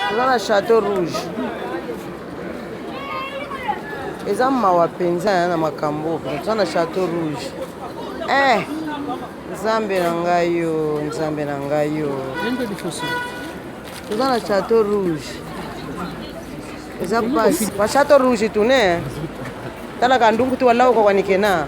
Toza na chateau rouge. Eza mawa mpenza ya na makambo toza na chateau rouge. Eh, nzambe na ngai yo, nzambe na ngai yo. Toza na chateau rouge. Eza pasi. Ba chateau rouge tune. Tala ka ndungu tu wala uko wanikena.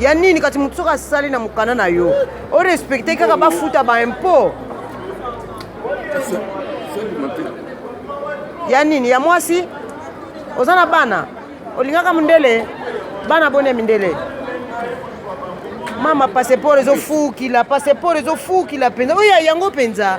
ya nini kati motu soki asali na mokanda na yo orespecte kaka bafuta baimpot ya nini ya mwasi oza na bana olingaka mondele bana boni ya mindele mama passeport ezofukila passeport ezofukila mpenza oyo yango mpenza